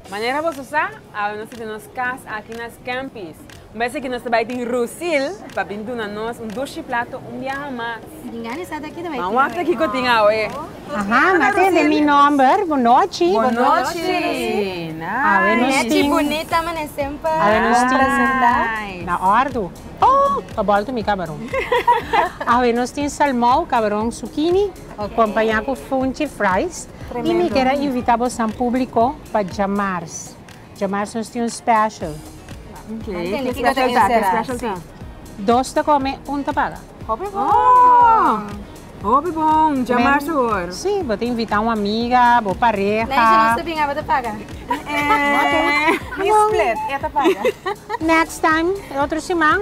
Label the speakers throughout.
Speaker 1: Manera boso sa, awe nos ta tin nos kas aki na Scampy's. Un bes aki nos ta bai tin Rusil pa bin duna nos un dushi plato un biaha mas. Ma wak aki ku tin awe. Aha, ma tin den mi nòmber, Bon nochi. Bon nochi. Awe nos tin. Nechi bunita mane semper. Awe nos tin. Nice. Na òrdu. Oh, pa bòlta mi kabaron. Awe nos tin salmou, kabaron, sukini. Acompaña cu Funchi Fries y mi quier a invita bosan publico pa dja mars. Dja mars nos tin un special. Dos ta come un ta paga. Hopi bon! Dja mars awor. Si, bo ta invita un amiga, bo pareha. Next time, otro siman.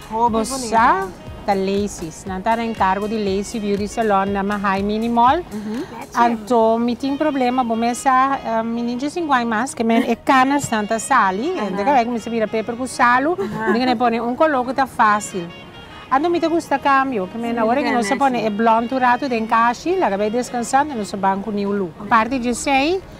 Speaker 1: Bosa ta Lacy's. Nan ta na encargo di Lacy Beauty Salon na Mahay Mini Mall. Anto mi tin problema, bo mes sa mi ni djis inguai mas ke men e canasnan ta sali. Hende ta bay ku mi sa bira paper ku salu. Mi tin ke na pone un color ku ta facil. Anto mi ta gusta cambio. Ke men awor ke nos a pone e blond un rato den cashi, laga bay descansa, no nos a ban ku niun lu. Aparte di esey,